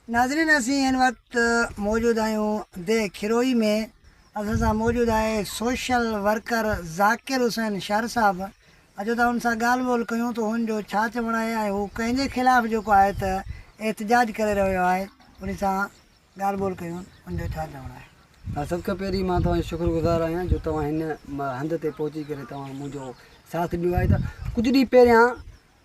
ناظرين اسين هن وقت موجود آهيون ديهه کروئي ۾ اسان سان موجود آهي سوشل ورڪر ذاڪر حسين شر صاحب اچو ته هن سان ڳالهه ٻولهه ڪيون ته هن جو ڇا چوڻ آهي ۽ هو ڪنهن جي خلاف جيڪو آهي ته احتجاج ڪري رهيو آهي ان سان ڳالهه ٻولهه ڪيون ان جو ڇا چوڻ آهي. ها سڀ کان پهرين مان توهان جو شڪر گذار آهيان جو توهان هن هنڌ تي پهچي ڪري توهان منهنجو ساٿ ڏنو آهي ته ڪجهه ڏينهن پهريان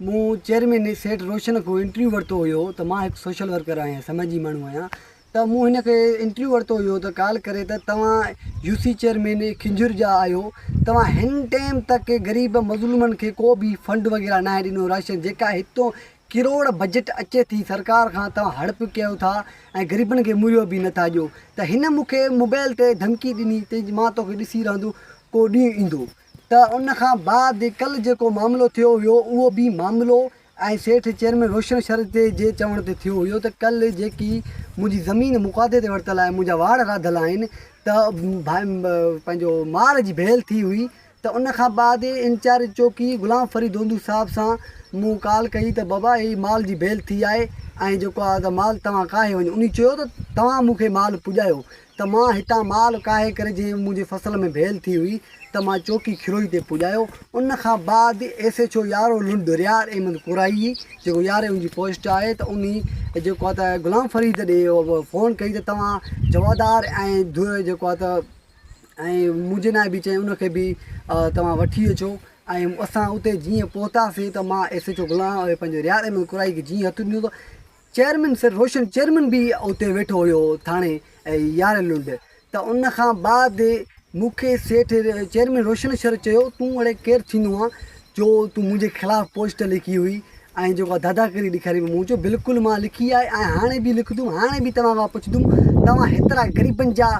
مون چيئرمين سيٺ روشن کان انٽرويو ورتو هيو ته مان هڪ سوشل ورڪر آهيان سماجي ماڻهو آهيان ته مون هن کي انٽرويو ورتو هيو ته ڪال ڪري ته توهان يو سي چيئرمين کنجهر جا آهيو توهان هن ٽيم تڪ غريب مظلومن کي ڪو بي فنڊ وغيره ناهي ڏنو راشن جيڪا هتو ڪروڙ بجيٽ اچي ٿي سرڪار کان توهان هڙپ ڪيو ٿا ۽ غريبن کي مهيو بي نٿا ڏيو ته هن مون کي موبائل تي ڌمڪي ڏني ته مان توکي ڏسي رهندو ڪو ڏينهن ايندو ته ان کان بعد ڪلھ جيڪو معاملو ٿيو ھيو اھو به معاملو ۽ سيٺ چيئرمين روشن شھر تي جي چوڻ تي ٿيو ھيو ته ڪلھ جيڪي منھنجي زمين مقادي تي ورتل آھي منھنجا واڙ راڌل آھن ته پنھنجو مال جي ڀيل ٿي ھئي ته ان کان بعد انچارج چوڪي غلام فريد ھوندو صاحب سان مون ڪال ڪئي ته بابا ھي مال جي ڀيل ٿي آھي ۽ جيڪو آھي مال توھان ڪاھي وڃو انھي چيو ته توھان مونکي مال پڄايو ته مان هتان مال ڪاهي ڪري جنهن منهنجي فصل ۾ ڀيل ٿي هئي ته مان چوڪي کروئي تي پڄايو ان کان بعد ايس ايڇ او يارو لنڊ ريار احمد ڪورائي جيڪو ياري ان جي پوسٽ آهي ته انهي جيڪو آهي ته غلام فريد ڏي فون ڪئي ته توهان جوادار ۽ ڌو جيڪو آهي ته ۽ منهنجي ناء به چئي ان کي به توهان وٺي اچو ۽ اسان اتي جيئن پهتاسي ته مان ايس ايڇ او غلام پنهنجو ريار احمد ڪورائي کي جيئن هٿ ڏنو ته چيئرمين سر روشن چيئرمين به اتي ويٺو هيو ٿاڻي يارهن لنڊ ته ان کان بعد مون کي سيٺ چيئرمين روشن سر چيو تون اڙي ڪير ٿيندو آن جو تون منهنجي خلاف پوسٽ لکي هئي ۽ جيڪو داداگيري ڏيکاري هئي مون چيو بلڪل مان لکي آهي ۽ هاڻي به لکندم هاڻي به توهان کان پڇندم توهان هيترا غريبن جا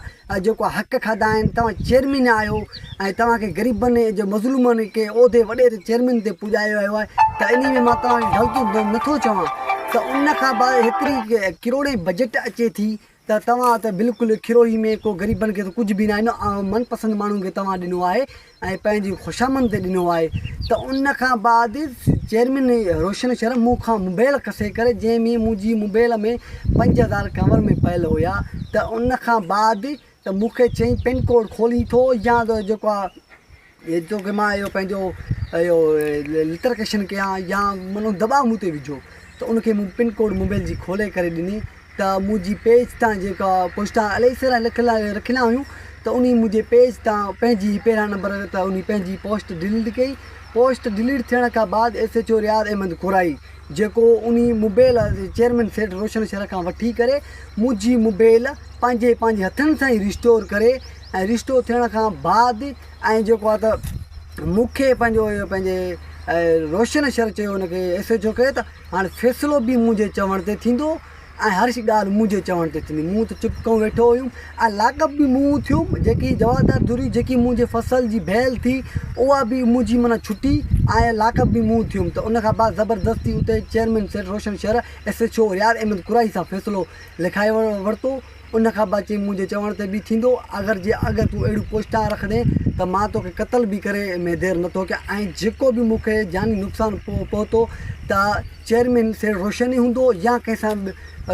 جيڪو حق کاڌا آهن توهان چيئرمين آهيو ۽ توهان کي غريبن جي مظلومن کي عهدي وڏي تي چيئرمين تي پڄايو ويو آهي ته انهي ۾ مان توهان کي غلطي نٿو چوان ته ان کان بعد هيتري ڪروڙين بجيٽ اچي ٿي ته توهان ته بلڪل کروهي ۾ ڪو غريبن کي ته ڪجهه به ناهي ڏنو من پسند ماڻهن کي توهان ڏنو آهي ۽ پنهنجي خوشامند تي ڏنو آهي ته ان کان بعد چيئرمين روشن شر مون کان موبيل کسي ڪري جنهن ۾ منهنجي موبيل ۾ پنج هزار ڪور ۾ پيل هيا ته ان کان بعد ته مون کي چئي پن ڪوڊ کولين ٿو يا ته جيڪو آهي توکي مان اهو پنهنجو اهو لٽرڪيشن ڪيان يا مطلب دٻاء مون تي وجهو ته ان کي مون پن ڪوڊ موبيل جي کولي ڪري ڏني ته منهنجي پيج تان جيڪا پوسٽا الائي سارا لک لاء رکيلا هيون ته انهي منهنجي پيج تان پنهنجي پهريان نمبر ته انهي پنهنجي پوسٽ ڊليٽ ڪئي پوسٽ ڊليٽ ٿيڻ کان بعد S H O Riaz Ahmed Korai جيڪو انهي موبيل چيئرمين سيٺ روشن شهر کان وٺي ڪري منهنجي موبيل پنهنجي پنهنجي هٿن سان ئي ريسٽور ڪري ۽ ريسٽور ٿيڻ کان بعد ۽ جيڪو آ ته مونکي پنهنجو اهي پنهنجي روشن شهر چيو انکي ايس ايچ او ڪيو ته هاڻ فيصلو به منهنجي چوڻ تي ٿيندو ۽ هر شي ڳالهه منهنجي چوڻ تي ٿيندي مون ته چپ ڪيو ويٺو هيم ۽ لاڳاپ به مون ٿيو جيڪي جوابدار ڌري جيڪي منهنجي فصل جي ڀيل ٿي اها به منهنجي معنيٰ ڇٽي ۽ لاڳاپ به مون ٿيم ته ان کان بعد زبردستي اتي chairman Seth Roshan Shar S H O Riaz Ahmed Qureshi سان فيصلو لکائي ورتو ان کان بعد چيائين، منهنجي چوڻ تي به ٿيندو، اگر جي اڳ تون اهڙيون پوسٽان رکندين ته مان توکي قتل به ڪري ۾ دير نه ٿو ڪيان ۽ جيڪو به مون کي جاني نقصان پهتو ته چيئرمين سيٺ روشن ئي هوندو يا ڪنهن سان به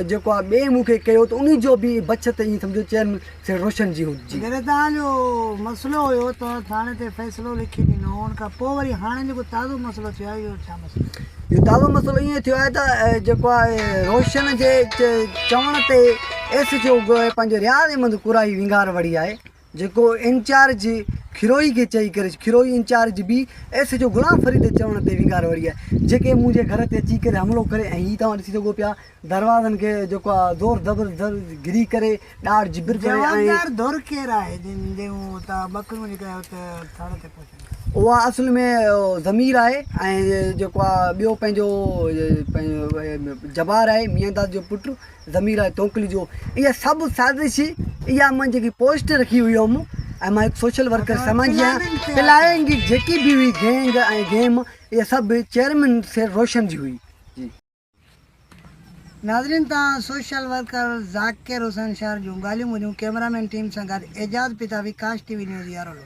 جيڪو آ ٻئي مون کي ڪيو ته ان جو به بڇت ائين سمجهو چيئرمين سيٺ روشن جي هوندي. گريدان جو مسئلو هيو ته ٿاڻي تي فيصلو لکي ڏنو هو ان کان پوء وري هاڻي جيڪو تازو مسئلو ٿيو آهي اهو ڇا مسئلو آهي؟ اهو دعويٰ مسئلو ائين ٿيو آهي ته جيڪو آهي روشن جي چوڻ تي ايس جي او پنهنجي رياض احمد قرائي ونگار وڙهي آهي جيڪو انچارج کروئي کي چئي ڪري کروئي انچارج بي ايس جو غلام فريد چوڻ تي ونگار وڙهي آهي جيڪي منهنجي گهر تي اچي ڪري حملو ڪري ۽ هي توهان ڏسي سگهو پيا دروازن کي جيڪو آ زور زبر زر گري ڪري ڏاڙ جبر ڪري ۽ جوابدار ڌر ڪير آهي جن جون تان ٻڪرون لڪائي ات ٿڙ تي پهچن. اها اصل ۾ ضمير آهي ۽ جيڪو آ ٻيو پنهنجو جبار آهي ميان داد جو پٽ ضمير آهي تونڪلي جو اها سڀ سازش اها مان جيڪي پوسٽ رکي هئي هيم ۽ مان هڪ سوشل ورڪر سماجي آهيان پلاننگ جيڪي به هئي گينگ ۽ گيم اها سڀ چيئرمين سير روشن جي هئي. ناظرين تان سوشل ورڪر ذاڪر حسين شهر جون ڳالهيون ٻولهيون ڪيمرا مين ٽيم سان گڏ اعجاز پتاوي ڪاش ٽي وي نيوز يارولو.